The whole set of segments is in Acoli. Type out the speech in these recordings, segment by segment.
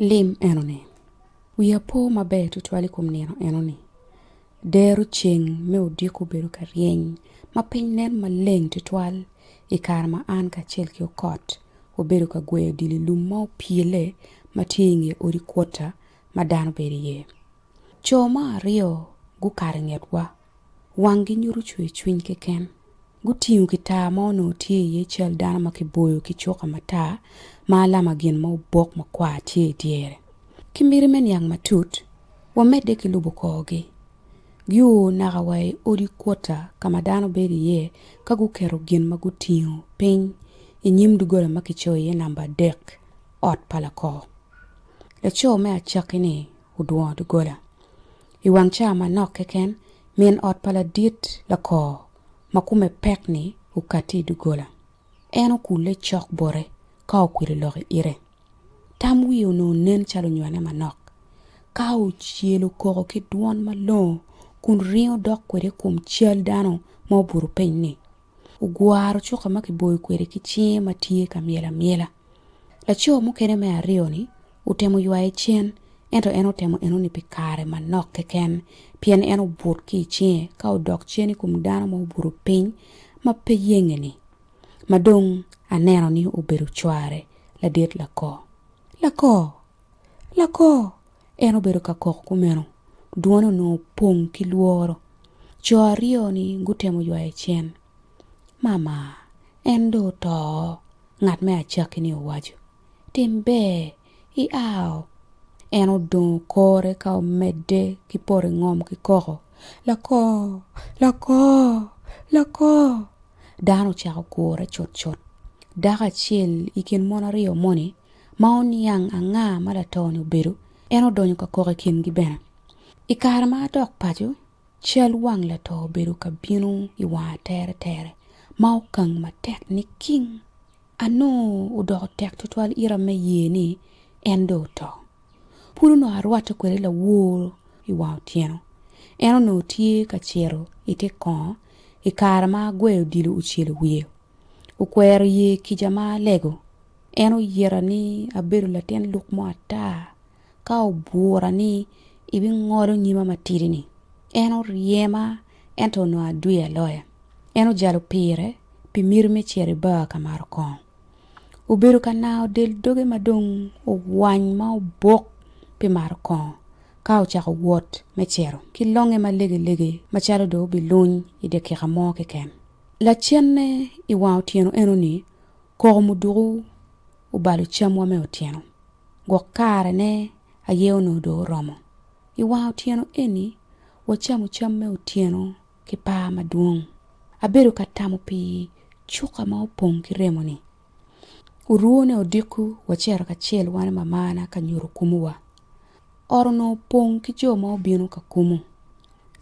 Lim enoni, wiya po maber tutwal i kom nino enoni. Dero ceng me odiko obedo ka ryeny ma piny nen maleng tutwal i kare ma an kacel ki Okot wabedo ka gweyo odilo i lum ma opyelle ma tye i nge odi kwota ma dano bedo iye. Co mo aryo gukato i ngetwa Wanggi nyuto cwercwiny keken. Gutingo kitaa ma onongo tye iye cal dano ma kiboyo ki cuka matar ma alama gin ma obok makwar tye i dyere. Ki miti me niang matut, wamedde ki lubo korgi. Gioo naka wa i odi kwota ka ma dano bedo iye ka guketo gin ma gutingo piny i nyim doggola ma kicoyo iye namba adek, Ot pa Lakor. Laco me acakki-ni odwongo doggola. I wang ca manok keken, min ot pa ladit lakor ma kome pek-ni okatte i doggola. En okulle cok bote ka okwilo lok i ite. Tam wiye onongo nen calo onywane manok. Ka ocelo koko ki dwon malongo kun ringo dok kwede i kom cal dano ma obuto piny-ni. ogwaro cuka ma kiboyo kwede ki cinge ma tye ka myel amyela. Laco mukene me aryo-ni otemo ywaye cen, ento en otemo enoni pi kare manok keken, pien en obut ki i cinge ka odok cen i kom dano ma obuto piny ma pe yenge-ni, ma dong aneno ni obedo cware ladit Lakor. Lakor Lakor! En obedo ka kok kumeno, dwone onongo opong ki lworo. Co aryo-ni gutemo ywaye cen. Mama, en dong oto! ngat me acakki-ni owaco. Tim ber, ia oo! En odongo kore ka omedde ki poto i ngom ki koko, Lakor! Lakor! Lakor! Dano ocako gure cutcut. Dako acel i kin mon aryo moni ma oniang anga ma lato-ni obedo, en odonyo ka kok i kingi bene. I kare ma adok paco, cal wang lato obedo ka bino i wanga tere tere, ma okang matek niking. Anongo odoko tek twatwal ita me ye ni en dong oto. Pud onongo arwatte kwede lawor i wang otyeno. En onongo tye ka ciro i te kongo i kare ma agweyo odilo ocelo wiye. Okwero ye kica ma alego. En oyeta ni abedo latin luk mo ata, ka obwura ni ibingolo nyima matidi ni. En oryema ento onongo adwiyo aloya. En ojalo pire pi miti me cito i bar ka mato kong. Obedo ka nao del doge ma dong owany ma obok pi mato kong ka ocako wot me cito ki longe ma legelege macalo dong obiluny i dakika mo keken. Lacenne i wang otyeno enoni, koko muduku obalo camwa me otyeno, gwok karene aye onongo dong oromo. I wang otyeno eni, wacamo cam me otyeno ki par madwong. Abedo ka tamo pi cuka ma opong ki remo-ni. Orwone odiko wacito kacel wan i mamana ka nyuto kumuwa. Ot onongo opong ki jo ma obino ka kumu.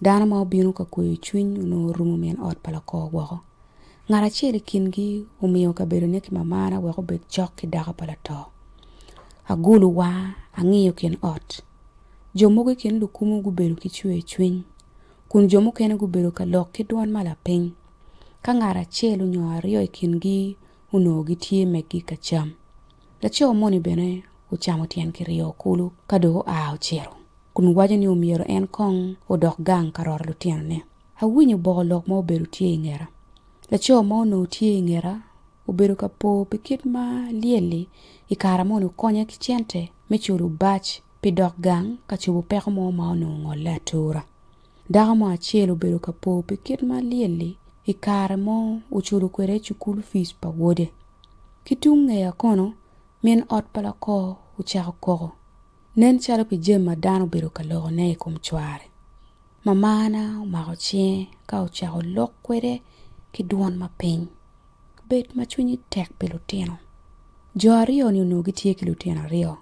Dano ma obino ka kweyo cwiny onongo orumo min ot pa lakor woko. Ngat acel i kingi omiyo kabedone ki mamana wek obed cok ki dako pa lato. Agulo wanga angiyo kin ot. Jo mogo i kin lukumu gubedo ki cwer cwiny kun jo mukene gubedo ka lok ki dwon ma lapiny. Ka ngat acel nyo aryo i kingi onongo gitye megi ka cam, laco moni bene ocamo tyen kiryeyo kulu ka dong oa ocito, kun waco ni omyero en kong odok gang ka roro lutinone. Awinyo boko lok ma obedo tye i ngeta. Laco ma onongo tye i ngeta obedo ka po pi kit ma lyel-li i kare moni okonye ki cente me culo bac pi dok gang ka cobo peko mo ma onongo ongolle atura. Dako mo acel obedo ka po pi kit ma lyel-li i kare mo oculo kwede cukul fic pa wode. Ki tung ngeya kono, min ot pa lakor ocako koko. Nen calo pi jami ma dano obedo ka lokone i kom cware, mamana omako cinge ka ocako lok kwede ki dwon ma piny. Bed ma cwinyi tek pi lutino. Jo aryo-ni onongo gitye ki lutino aryo.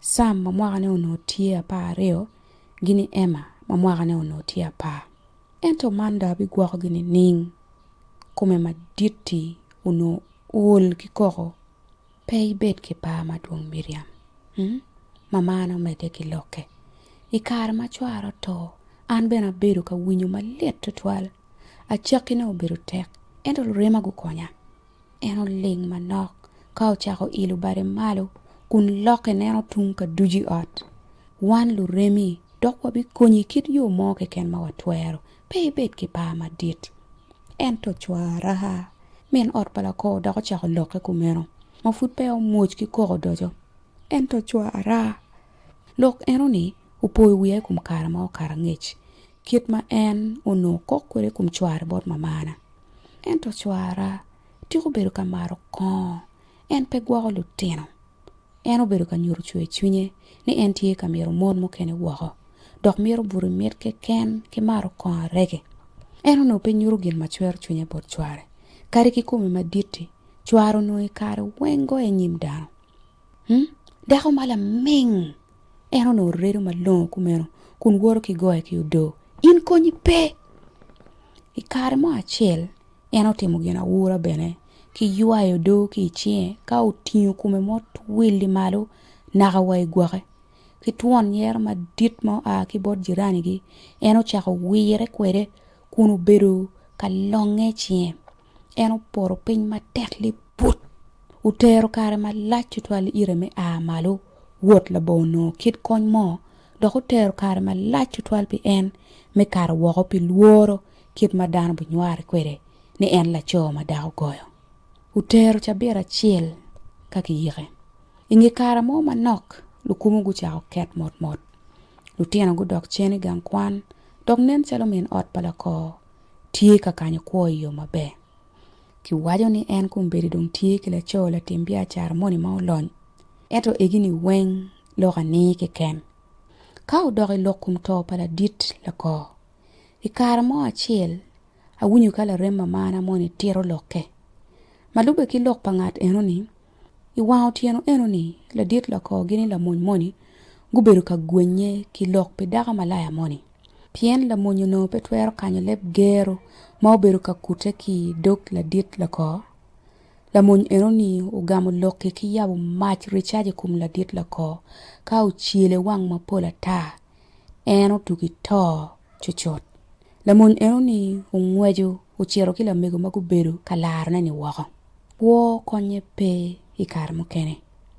Sam ma mwakane onongo tye apar aryo gi ni Emma ma mwakane onongo tye apar. Ento man dong abigwokogi nining? Kome madit-ti onongo ool ki koko. Pe ibed ki par madwong Miriam. Mamana omedde ki lokke. I kare ma cwara oto, an bene abedo ka winyo malit tutwal. Acakkine obedo tek, ento lurema gukonya. En oling manok ka ocako ilo bade malo kun lokke neno tung ka ducu i ot. Wan luremi dok wabikonyi i kit yo mo keken ma watwero. Pe ibed ki par madit. Ento cwaraha, min ot pa Lakor dok ocako lokke kumeno ma pud peya omwoc ki koko odoco. Ento cwara. Lok eno ni opoyo wiya i kom kare ma okato angec, kit ma en onongo kok kwede i kom cware bot mamana. Ento cwara tiko bedo ka maro kongo, en pe gwoko lutino. En obedo ka nyuto cwercwinye ni en tye ka mito mon mukene woko, dok mito buto i mit keken ki maro kongo arege. En onongo pe nyuto gin ma cwero cwinye bot cware, kadi ki kome madit-ti. Cware onongo i kare weng goyo i nyim dano. Hmm? Dako ma laming en onongo redo malongo kumeno kun woto ki goyo ki odoo. In konyi pe. I kare mo acel en otimo gin awura bene ki ywayo odoo ki i cinge ka otingo kome ma otwili malo naka wa i gwoke. Ki twon nyero madit ma oa ki bot jiranigi en ocako wire kwede kun obedo ka longe i cinge. En oporo piny matek libut, otero kare malac tutwal ite me a malo wot labongo nongo kit kony mo, dok otero kare malac tutwal pi en me kato woko pi lworo kit ma dano binyware kwede ni en laco ma dako goyo. Otero cabit acel ka kiyike. I nge kare mo manok, lukumo gucako ket motmot. Lutino gudok cen i gang kwan, dok nen calo min ot pa lakor tye ka kanyo kwo i yo maber. Kiwaco ni en kombeddi dong tye ki laco latim biacara moni ma olony, ento egini weng lok ani keken. Ka odok i lok kom to pa ladit lakor, i kare mo acel awinyo ka larem ma marna moni tito lokke. Ma lubbe ki lok pa ngat enoni, i wang otyeno enoni ladit lakor gini lamony moni gubedo ka gwenye ki lok pi dako malaya moni. Pien lamony onongo pe twero kanyo leb gero ma obedo ka kute ki i dog ladit lakor, lamony enoni ogamo lok-ki ki yabo mac ricaja i kom ladit lakor ka ocele wang mapol ata, en otuk i to cucut. Lamony enoni ongweco ocito ki lamego ma gubedo ka larone-ni woko. Kwo konnye pe i kare mukene.